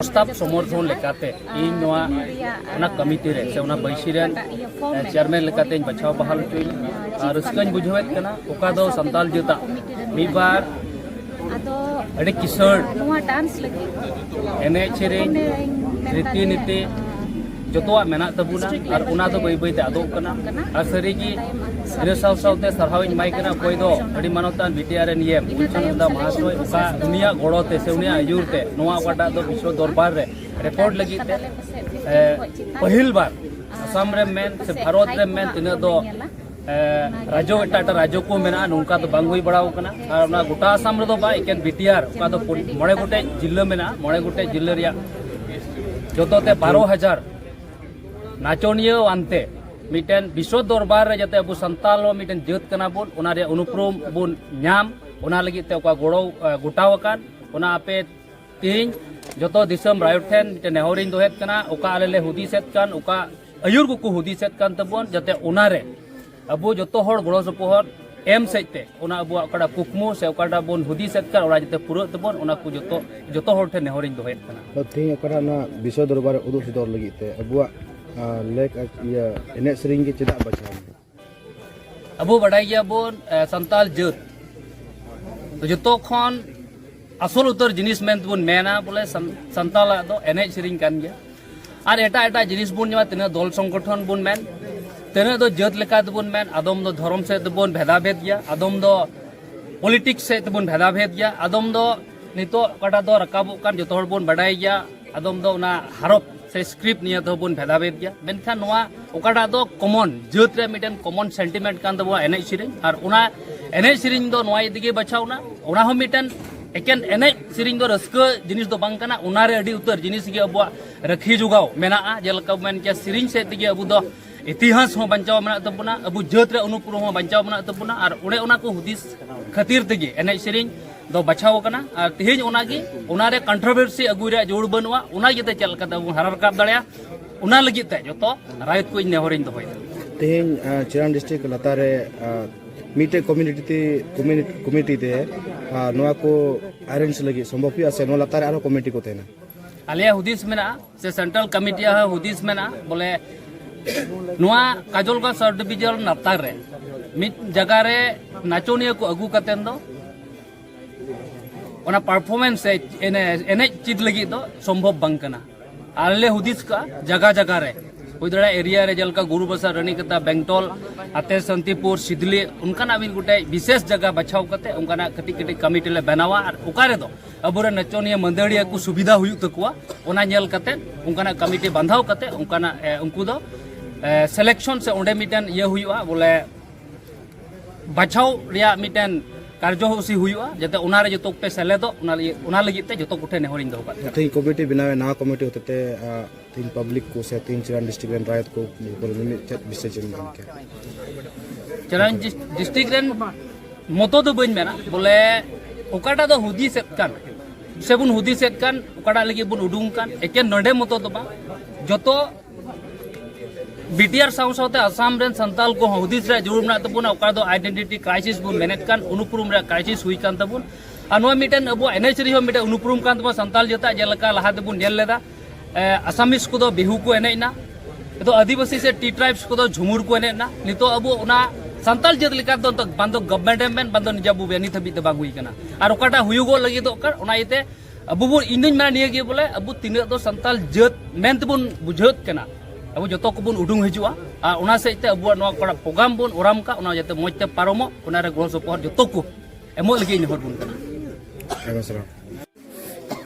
ᱯᱨᱚᱥᱛᱟᱵ ᱥᱚᱢᱚᱨᱛᱷᱚᱱ ᱞᱮᱠᱟᱛᱮ ᱤᱧ ᱱᱚᱣᱟ ᱚᱱᱟ ᱠᱚᱢᱤᱴᱤ ᱨᱮ ᱥᱮ ᱚᱱᱟ ᱵᱟᱹᱭᱥᱤ ᱨᱮᱱ ᱪᱮᱭᱟᱨᱢᱮᱱ ᱞᱮᱠᱟᱛᱮᱧ ᱵᱟᱪᱷᱟᱣ ᱵᱟᱦᱟᱞ ᱦᱚᱪᱚᱭᱤᱧ ᱟᱨ ᱨᱟᱹᱥᱠᱟᱹᱧ ᱵᱩᱡᱷᱟᱹᱣᱮᱫ ᱠᱟᱱᱟ ᱚᱠᱟ ᱫᱚ ᱥᱟᱱᱛᱟᱞ ᱡᱟᱹᱛᱟᱜ ᱢᱤᱫ ᱵᱟᱨ ᱟᱹᱰᱤ ᱠᱤᱥᱟᱹᱬ ᱮᱱᱮᱡ ᱥᱮᱨᱮᱧ ᱨᱤᱛᱤ ᱱᱤᱛᱤ ᱡᱚᱛᱚᱣᱟᱜ ᱢᱮᱱᱟᱜ ᱛᱟᱵᱚᱱᱟ ᱟᱨ ᱚᱱᱟ ᱫᱚ ᱵᱟᱹᱭ ᱵᱟᱹᱭᱛᱮ ᱟᱫᱚᱜ ᱠᱟᱱᱟ ᱟᱨ ᱥᱟᱹᱨᱤᱜᱮ ᱤᱱᱟᱹ ᱥᱟᱶ ᱥᱟᱶᱛᱮ ᱥᱟᱨᱦᱟᱣᱤᱧ ᱮᱢᱟᱭ ᱠᱟᱱᱟ ᱚᱠᱚᱭ ᱫᱚ ᱟᱹᱰᱤ ᱢᱟᱱᱚᱛᱟᱱ ᱵᱤᱴᱤᱟᱨ ᱮᱱ ᱤᱭᱮᱢ ᱩᱞᱪᱟᱱᱚᱱᱫᱟ ᱢᱟᱦᱟᱥᱚᱭ ᱚᱠᱟ ᱩᱱᱤᱭᱟᱜ ᱜᱚᱲᱚ ᱛᱮ ᱥᱮ ᱩᱱᱤᱭᱟᱜ ᱟᱹᱭᱩᱨ ᱛᱮ ᱱᱚᱣᱟ ᱚᱠᱟᱴᱟᱜ ᱫᱚ ᱵᱤᱥᱣᱚ ᱫᱚᱨᱵᱟᱨ ᱨᱮ ᱨᱮᱠᱚᱨᱰ ᱞᱟᱹᱜᱤᱫ ᱛᱮ ᱯᱟᱹᱦᱤᱞ ᱵᱟᱨ ᱟᱥᱟᱢ ᱨᱮᱢ ᱢᱮᱱ ᱥᱮ ᱵᱷᱟᱨᱚᱛ ᱨᱮᱢ ᱢᱮᱱ ᱛᱤᱱᱟᱹᱜ ᱫᱚ ᱨᱟᱡᱽᱡᱚ ᱮᱴᱟᱜ ᱮᱴᱟᱜ ᱨᱟᱡᱽᱡᱚ ᱠᱚ ᱢᱮᱱᱟᱜᱼᱟ ᱱᱚᱝᱠᱟ ᱫᱚ ᱵᱟᱝ ᱦᱩᱭ ᱵᱟᱲᱟᱣ ᱠᱟᱱᱟ ᱟᱨ ᱚᱱᱟ ᱜᱚᱴᱟ ᱟᱥᱟᱢ ᱨᱮᱫᱚ ᱵᱟᱝ ᱮᱠᱮᱱ ᱵᱤᱴᱤᱟᱨ ᱚᱠᱟ ᱫᱚ ᱢᱚᱬᱮ ᱜᱚᱴᱮᱡ ᱡᱤᱞᱟᱹ ᱢᱮᱱᱟᱜᱼᱟ ᱢᱚᱬᱮ ᱜᱚᱴᱮᱡ ᱡᱤᱞᱟᱹ ᱨᱮᱭᱟᱜ ᱡᱚᱛᱚᱛᱮ ᱵᱟᱨᱚ ᱦᱟᱡᱟᱨ ᱱᱟᱪᱚᱱᱤᱭᱟᱹ ᱟᱱᱛᱮ ᱢᱤᱫᱴᱮᱱ ᱵᱤᱥᱥᱚ ᱫᱚᱨᱵᱟᱨ ᱨᱮ ᱡᱟᱛᱮ ᱟᱵᱚ ᱥᱟᱱᱛᱟᱞ ᱦᱚᱸ ᱢᱤᱫᱴᱮᱱ ᱡᱟᱹᱛ ᱠᱟᱱᱟ ᱵᱚᱱ ᱚᱱᱟ ᱨᱮᱭᱟᱜ ᱚᱱᱩᱯᱨᱚᱢ ᱵᱚᱱ ᱧᱟᱢ ᱚᱱᱟ ᱞᱟᱹᱜᱤᱫ ᱛᱮ ᱚᱠᱟ ᱜᱚᱲᱚ ᱜᱚᱴᱟᱣ ᱟᱠᱟᱱ ᱚᱱᱟ ᱟᱯᱮ ᱤᱧ ᱡᱚᱛᱚ ᱫᱤᱥᱚᱢ ᱨᱟᱭᱚᱴ ᱴᱷᱮᱱ ᱢᱤᱫᱴᱮᱱ ᱱᱮᱦᱚᱨᱤᱧ ᱫᱚᱦᱮᱫ ᱠᱟᱱᱟ ᱚᱠᱟ ᱟᱞᱮ ᱞᱮ ᱦᱩᱫᱤᱥᱮᱫ ᱠᱟᱱ ᱚᱠᱟ ᱟᱹᱭᱩᱨ ᱠᱚᱠᱚ ᱦᱩᱫᱤᱥᱮᱫ ᱠᱟᱱ ᱛᱟᱵᱚᱱ ᱡᱟᱛᱮ ᱚᱱᱟᱨᱮ ᱟᱵᱚ ᱡᱚᱛᱚ ᱦᱚᱲ ᱜᱚᱲᱚ ᱥᱚᱯᱚᱦᱚᱫ ᱮᱢ ᱥᱮᱡ ᱛᱮ ᱚᱱᱟ ᱟᱵᱚᱣᱟᱜ ᱚᱠᱟᱴᱟᱜ ᱠᱩᱠᱢᱩ ᱥᱮ ᱚᱠᱟᱴᱟᱜ ᱵᱚᱱ ᱦᱩᱫᱤᱥᱮᱫ ᱠᱟᱱ ᱚᱱᱟ ᱡᱟᱛᱮ ᱯᱩᱨᱟᱹᱜ ᱛᱟᱵᱚᱱ ᱚᱱᱟ ᱠᱚ ᱡᱚᱛᱚ ᱡᱚᱛᱚ ᱦᱚᱲ ᱴᱷᱮᱱ ᱱᱮᱦᱚᱨᱤᱧ ᱫᱚᱦᱮᱫ ᱠᱟᱱᱟ ᱛᱮᱦᱮᱧ ᱚᱠᱟᱴᱟᱜ ᱱᱚᱣᱟ ᱵᱤᱥᱚᱭ ᱫᱚᱨᱵᱟᱨ ᱩᱫᱩᱜ ᱥᱚᱫᱚᱨ ᱞᱟᱹᱜᱤᱫ ᱛᱮ ᱟᱵᱚᱣᱟᱜ ᱞᱮᱠ ᱤᱭᱟᱹ ᱮᱱᱮᱡ ᱥᱮᱨᱮᱧ ᱜᱮ ᱪᱮᱫᱟᱜ ᱵᱟᱪᱷᱟᱣ ᱟᱵᱚ ᱵᱟᱰᱟᱭ ᱜᱮᱭᱟᱵᱚᱱ ᱥᱟᱱᱛᱟᱞ ᱡᱟᱹᱛ ᱡᱚᱛᱚ ᱠᱷᱚᱱ ᱟᱥᱚᱞ ᱩᱛᱟᱹᱨ ᱡᱤᱱᱤᱥ ᱢᱮᱱᱛᱮᱵᱚᱱ ᱢᱮᱱᱟ ᱵᱚᱞᱮ ᱥᱟᱱᱛᱟᱞᱟᱜ ᱫᱚ ᱮᱱᱮᱡ ᱥᱮᱨᱮᱧ ᱠᱟᱱ ᱜᱮᱭᱟ ᱟᱨ ᱮᱴᱟᱜ ᱮᱴᱟᱜ ᱡᱤᱱᱤᱥ ᱵᱚᱱ ᱧᱟᱢᱟ ᱛᱤᱱᱟᱹᱜ ᱫᱚᱞ ᱥᱚᱝᱜᱚᱴᱷᱚᱱ ᱵᱚᱱ ᱢᱮᱱ ᱛᱤᱱᱟᱹᱜ ᱫᱚ ᱡᱟᱹᱛ ᱞᱮᱠᱟ ᱛᱮᱵᱚᱱ ᱢᱮᱱ ᱟᱫᱚᱢ ᱫᱚ ᱫᱷᱚᱨᱚᱢ ᱥᱮᱫ ᱛᱮᱵᱚᱱ ᱵᱷᱮᱫᱟ ᱵᱷᱮᱫ ᱜᱮᱭᱟ ᱟᱫᱚᱢ ᱫᱚ ᱯᱚᱞᱤᱴᱤᱠᱥ ᱥᱮᱫ ᱛᱮᱵᱚᱱ ᱵᱷᱮᱫᱟ ᱵᱷᱮᱫ ᱜᱮᱭᱟ ᱟᱫᱚᱢ ᱫᱚ ᱱᱤᱛᱚᱜ ᱚᱠᱟᱴᱟᱜ ᱫᱚ ᱨᱟᱠᱟᱵᱚᱜ ᱠᱟᱱ ᱡᱚᱛᱚ ᱦᱚᱲ ᱵᱚᱱ ᱵᱟᱰᱟᱭ ᱜᱮᱭᱟ ᱟᱫᱚᱢ ᱫᱚ ᱚᱱᱟ ᱦᱟᱨᱚᱯ ᱥᱮ ᱥᱠᱨᱤᱯᱴ ᱱᱤᱭᱟᱹ ᱫᱚ ᱵᱚᱱ ᱵᱷᱮᱫᱟᱵᱷᱮᱫ ᱜᱮᱭᱟ ᱢᱮᱱᱠᱷᱟᱱ ᱱᱚᱣᱟ ᱚᱠᱟᱴᱟᱜ ᱫᱚ ᱠᱚᱢᱚᱱ ᱡᱟᱹᱛ ᱨᱮ ᱢᱤᱫᱴᱮᱱ ᱠᱚᱢᱚᱱ ᱥᱮᱱᱴᱤᱢᱮᱱᱴ ᱠᱟᱱ ᱛᱟᱵᱚᱱᱟ ᱮᱱᱮᱡ ᱥᱮᱨᱮᱧ ᱟᱨ ᱚᱱᱟ ᱮᱱᱮᱡ ᱥᱮᱨᱮᱧ ᱫᱚ ᱱᱚᱣᱟ ᱤᱫᱤ ᱜᱮ ᱵᱟᱪᱷᱟᱣᱱᱟ ᱚᱱᱟ ᱦᱚᱸ ᱢᱤᱫᱴᱮᱱ ᱮᱠᱮᱱ ᱮᱱᱮᱡ ᱥᱮᱨᱮᱧ ᱫᱚ ᱨᱟᱹᱥᱠᱟᱹ ᱡᱤᱱᱤᱥ ᱫᱚ ᱵᱟᱝ ᱠᱟᱱᱟ ᱚᱱᱟ ᱨᱮ ᱟᱹᱰᱤ ᱩᱛᱟᱹᱨ ᱡᱤᱱᱤᱥ ᱜᱮ ᱟᱵᱚᱣᱟᱜ ᱨᱟᱹᱠᱷᱤ ᱡᱚᱜᱟᱣ ᱢᱮᱱᱟᱜᱼᱟ ᱡᱮᱞᱮᱠᱟ ᱢᱮᱱ ᱠᱮᱭᱟ ᱥᱮᱨᱮᱧ ᱥᱮᱫ ᱛᱮᱜᱮ ᱟᱵᱚ ᱫᱚ ᱤᱛᱤᱦᱟᱥ ᱦᱚᱸ ᱵᱟᱧᱪᱟᱣ ᱢᱮᱱᱟᱜ ᱛᱟᱵᱚᱱᱟ ᱟᱵᱚ ᱡᱟᱹᱛ ᱨᱮ ᱚᱱᱩᱯᱩᱨᱩᱢ ᱦᱚᱸ ᱵᱟᱧᱪᱟᱣ ᱢᱮᱱᱟᱜ ᱛᱟᱵᱚᱱᱟ ᱟᱨ ᱚᱱᱮ ᱚᱱᱟ ᱠᱚ ᱦᱩᱫᱤᱥ ᱠᱷᱟᱹᱛᱤᱨ ᱛᱮᱜᱮ ᱮᱱᱮᱡ ᱥᱮᱨᱮᱧ ᱫᱚ ᱵᱟᱪᱷᱟᱣ ᱟᱠᱟᱱᱟ ᱟᱨ ᱛᱮᱦᱮᱧ ᱚᱱᱟᱜᱮ ᱚᱱᱟᱨᱮ ᱠᱚᱱᱴᱨᱳᱵᱷᱟᱨᱥᱤ ᱟᱹᱜᱩᱭ ᱨᱮᱭᱟᱜ ᱡᱳᱨ ᱵᱟᱹᱱᱩᱜᱼᱟ ᱚᱱᱟ ᱤᱭᱟᱹᱛᱮ ᱪᱮᱫ ᱞᱮᱠᱟᱛᱮ ᱟᱵᱚ ᱦᱟᱨᱟ ᱨᱟᱠᱟᱵ ᱫᱟᱲᱮᱭᱟᱜᱼᱟ ᱚᱱᱟ ᱞᱟᱹᱜᱤᱫ ᱛᱮ ᱡᱚᱛᱚ ᱨᱟᱭᱚᱛ ᱠᱚ ᱤᱧ ᱱᱮᱦᱚᱨᱤᱧ ᱫᱚᱦᱚᱭᱮᱫᱟ ᱛᱮᱦᱮᱧ ᱪᱤᱨᱟᱱ ᱰᱤᱥᱴᱨᱤᱠᱴ ᱞᱟᱛᱟᱨ ᱨᱮ ᱢᱤᱫᱴᱮᱱ ᱠᱚᱢᱤᱴᱤ ᱛᱮ ᱠᱚᱢᱤᱴᱤ ᱛᱮ ᱱᱚᱣᱟ ᱠᱚ ᱟᱨᱮᱧᱡᱽ ᱞᱟᱹᱜᱤᱫ ᱥᱚᱢᱵᱷᱚᱵ ᱦᱩᱭᱩᱜᱼᱟ ᱥᱮ ᱱᱚᱣᱟ ᱞᱟᱛᱟᱨ ᱨᱮ ᱟᱨᱦᱚᱸ ᱠᱚᱢᱤᱴᱤ ᱠᱚ ᱛᱟᱦᱮᱱᱟ ᱟᱞᱮᱭᱟᱜ ᱦᱩᱫᱤᱥ ᱢᱮᱱᱟᱜᱼᱟ ᱥᱮ ᱥᱮᱱᱴᱨᱟᱞ ᱠᱚᱢᱤᱴᱤ ᱦᱚᱸ ᱦᱩᱫᱤᱥ ᱢᱮᱱᱟᱜᱼᱟ ᱵᱚᱞᱮ ᱱᱚᱣᱟ ᱠᱟᱡᱚᱞᱜᱚᱸᱡᱽ ᱥᱟᱵ ᱰᱤᱵᱷᱤᱡᱚᱱ ᱱᱟᱯᱛᱟᱨ ᱨᱮ ᱢᱤᱫ ᱡᱟᱭᱜᱟ ᱨᱮ ᱱᱟᱪᱚᱱᱤᱭᱟᱹ ᱠᱚ ᱟᱹᱜᱩ ᱠᱟᱛᱮ ᱫᱚ ᱚᱱᱟ ᱯᱟᱨᱯᱷᱚᱨᱢᱮᱱᱥ ᱥᱮ ᱮᱱᱮᱡ ᱪᱮᱫ ᱞᱟᱹᱜᱤᱫ ᱫᱚ ᱥᱚᱢᱵᱷᱚᱵ ᱵᱟᱝ ᱠᱟᱱᱟ ᱟᱞᱮ ᱞᱮ ᱦᱩᱫᱤᱥ ᱠᱟᱜᱼᱟ ᱡᱟᱭᱜᱟ ᱡᱟᱭᱜᱟ ᱨᱮ ᱦᱩᱭ ᱫᱟᱲᱮᱭᱟᱜᱼᱟ ᱮᱨᱤᱭᱟ ᱨᱮ ᱡᱮᱞᱮᱠᱟ ᱜᱩᱨᱩᱵᱟᱥᱟ ᱨᱟᱱᱤᱠᱟᱛᱟ ᱵᱮᱝᱴᱚᱞ ᱟᱛᱮ ᱥᱟᱱᱛᱤᱯᱩᱨ ᱥᱤᱫᱽᱞᱤ ᱚᱱᱠᱟᱱᱟᱜ ᱢᱤᱫ ᱜᱚᱴᱮᱡ ᱵᱤᱥᱮᱥ ᱡᱟᱭᱜᱟ ᱵᱟᱪᱷᱟᱣ ᱠᱟᱛᱮ ᱚᱱᱠᱟᱱᱟᱜ ᱠᱟᱹᱴᱤᱡ ᱠᱟᱹᱴᱤᱡ ᱠᱚᱢᱤᱴᱤ ᱞᱮ ᱵᱮᱱᱟᱣᱟ ᱟᱨ ᱚᱠᱟ ᱨᱮᱫᱚ ᱟᱵᱚᱨᱮ ᱱᱟᱪᱚᱱᱤᱭᱟᱹ ᱢᱟᱹᱫᱟᱹᱲᱤᱭᱟᱹ ᱠᱚ ᱥᱩᱵᱤᱫᱷᱟ ᱦᱩᱭᱩᱜ ᱛᱟᱠᱚᱣᱟ ᱚᱱᱟ ᱧᱮᱞ ᱠᱟᱛᱮ ᱚᱱᱠᱟᱱᱟᱜ ᱠᱚᱢᱤᱴᱤ ᱵᱟᱸᱫᱷᱟᱣ ᱠᱟᱛᱮ ᱚᱱᱠᱟᱱᱟᱜ ᱩᱱᱠᱩ ᱫᱚ ᱥᱤᱞᱮᱠᱥᱚᱱ ᱥᱮ ᱚᱸᱰᱮ ᱢᱤᱫᱴᱮᱱ ᱤᱭᱟᱹ ᱦᱩᱭᱩᱜᱼᱟ ᱵᱚᱞᱮ ᱵᱟᱪᱷᱟᱣ ᱨᱮᱭᱟᱜ ᱢᱤᱫᱴᱮᱱ ᱠᱟᱨᱡᱚᱥᱩᱪᱤ ᱦᱩᱭᱩᱜᱼᱟ ᱡᱟᱛᱮ ᱚᱱᱟᱨᱮ ᱡᱚᱛᱚ ᱠᱚᱯᱮ ᱥᱮᱞᱮᱫᱚᱜ ᱚᱱᱟ ᱞᱟᱹᱜᱤᱫ ᱛᱮ ᱡᱚᱛᱚ ᱠᱚᱴᱷᱮᱱ ᱱᱮᱦᱚᱨᱤᱧ ᱫᱚᱦᱚ ᱠᱟᱜ ᱛᱮᱦᱮᱧ ᱠᱚᱢᱤᱴᱤ ᱵᱮᱱᱟᱣ ᱱᱟᱣᱟ ᱠᱚᱢᱤᱴᱤ ᱦᱚᱛᱮᱛᱮ ᱛᱤᱱ ᱯᱟᱵᱽᱞᱤᱠ ᱠᱚ ᱥᱮ ᱛᱤᱱ ᱪᱮᱨᱟᱱ ᱰᱤᱥᱴᱨᱤᱠ ᱨᱮᱱ ᱨᱟᱭᱚᱛ ᱠᱚ ᱩᱯᱚᱨ ᱢᱤᱢᱤᱫ ᱪᱮᱫ ᱵᱤᱥᱮᱥ ᱮᱢ ᱢᱮᱱ ᱠᱮᱭᱟ ᱪᱮᱨᱟᱱ ᱰᱤᱥᱴᱨᱤᱠ ᱨᱮᱱ ᱢᱚᱛᱚ ᱫᱚ ᱵᱟᱹᱧ ᱢᱮᱱᱟ ᱵᱚᱞᱮ ᱚᱠᱟᱴᱟᱜ ᱫᱚ ᱦᱩᱫᱤᱥᱮᱫ ᱠᱟᱱ ᱥᱮ ᱵᱚᱱ ᱦᱩᱫᱤᱥᱮᱫ ᱠᱟᱱ ᱚᱠᱟᱴᱟᱜ ᱞᱟᱹᱜᱤᱫ ᱵᱚᱱ ᱩᱰᱩᱝ ᱠᱟᱱ ᱮᱠᱮᱱ ᱱᱚᱰᱮ ᱢᱚᱛᱚ ᱫᱚ ᱵᱟᱝ ᱡᱚᱛᱚ ᱵᱤᱴᱤᱟᱨ ᱥᱟᱶ ᱥᱟᱶᱛᱮ ᱟᱥᱟᱢ ᱨᱮᱱ ᱥᱟᱱᱛᱟᱞ ᱠᱚ ᱦᱩᱫᱤᱥ ᱨᱮ ᱡᱟᱹᱨᱩᱲ ᱢᱮᱱᱟᱜ ᱛᱟᱵᱚᱱᱟ ᱚᱠᱟ ᱫᱚ ᱟᱭᱰᱮᱱᱴᱤᱴᱤ ᱠᱨᱟᱭᱥᱤᱥ ᱵᱚᱱ ᱢᱮᱱᱮᱫ ᱠᱟᱱ ᱩᱱᱩᱯᱨᱩᱢ ᱨᱮ ᱠᱨᱟᱭᱥᱤᱥ ᱦᱩᱭ ᱠᱟᱱ ᱛᱟᱵᱚᱱ ᱟᱨ ᱱᱚᱣᱟ ᱢᱤᱫᱴᱮᱱ ᱟᱵᱚᱣᱟᱜ ᱮᱱᱮᱡ ᱥᱮᱨᱮᱧ ᱦᱚᱸ ᱢᱤᱫᱴᱮᱱ ᱩᱱᱩᱯᱨᱩᱢ ᱠᱟᱱ ᱛᱟᱵᱚᱱᱟ ᱥᱟᱱᱛᱟᱞ ᱡᱟᱹᱛᱟᱜ ᱡᱮᱞᱮᱠᱟ ᱞᱟᱦᱟ ᱛᱮᱵᱚᱱ ᱧᱮᱞ ᱞᱮᱫᱟ ᱟᱥᱟᱢᱤᱥ ᱠᱚᱫᱚ ᱵᱤᱦᱩ ᱠᱚ ᱮᱱᱮᱡ ᱮᱱᱟ ᱱᱤᱛᱚᱜ ᱟᱹᱫᱤᱵᱟᱹᱥᱤ ᱥᱮ ᱴᱤ ᱴᱨᱟᱭᱤᱵᱽᱥ ᱠᱚᱫᱚ ᱡᱷᱩᱢᱩᱨ ᱠᱚ ᱮᱱᱮᱡ ᱮᱱᱟ ᱱᱤᱛᱚᱜ ᱟᱵᱚ ᱚᱱᱟ ᱥᱟᱱᱛᱟᱲ ᱡᱟᱹᱛ ᱞᱮᱠᱟ ᱫᱚ ᱵᱟᱝ ᱫᱚ ᱜᱚᱵᱷᱢᱮᱱᱴ ᱮᱢ ᱢᱮᱱ ᱵᱟᱝ ᱫᱚ ᱱᱤᱡᱟ ᱵᱚ ᱱᱤᱛ ᱦᱟᱹᱵᱤᱡ ᱫᱚ ᱵᱟᱝ ᱦᱩᱭ ᱠᱟᱱᱟ ᱟᱨ ᱚᱠᱟᱴᱟᱜ ᱦᱩᱭᱩᱜᱚᱜ ᱞᱟᱹᱜᱤᱫᱚᱜ ᱠᱟᱱ ᱚᱱᱟ ᱤᱭᱟᱹᱛᱮ ᱟᱵᱚ ᱵᱚ ᱤᱧ ᱫᱩᱧ ᱢᱮᱱᱟ ᱱᱤᱭᱟᱹ ᱜᱮ ᱵᱚᱞᱮ ᱟᱵᱚ ᱛᱤᱱᱟᱹᱜ ᱫᱚ ᱥᱟᱱᱛᱟᱲ ᱡᱟᱹᱛ ᱢᱮᱱ ᱛᱮᱵᱚᱱ ᱵᱩᱡᱷᱟᱹᱣ ᱠᱟᱱᱟ ᱟᱵᱚ ᱡᱚᱛᱚ ᱠᱚᱵᱚᱱ ᱩᱰᱩᱝ ᱦᱤᱡᱩᱜᱼᱟ ᱟᱨ ᱚᱱᱟ ᱥᱮᱫ ᱛᱮ ᱟᱵᱚᱣᱟᱜ ᱱᱚᱣᱟ ᱚᱠᱟᱴᱟᱜ ᱯᱨᱳᱜᱨᱟᱢ ᱵᱚᱱ ᱚᱨᱟᱢ ᱠᱟᱜ ᱚᱱᱟ ᱡᱟᱛᱮ ᱢᱚᱡᱽ ᱛᱮ ᱯᱟᱨᱚᱢᱚᱜ ᱚᱱᱟᱨᱮ ᱜᱚᱲᱚ ᱥᱚᱯᱚᱦᱚᱫ ᱡᱚᱛᱚ ᱠᱚ ᱮᱢᱚᱜ ᱞᱟᱹᱜᱤᱫ ᱤᱧ ᱦᱚᱲ ᱵᱚᱱ ᱠᱟᱱᱟ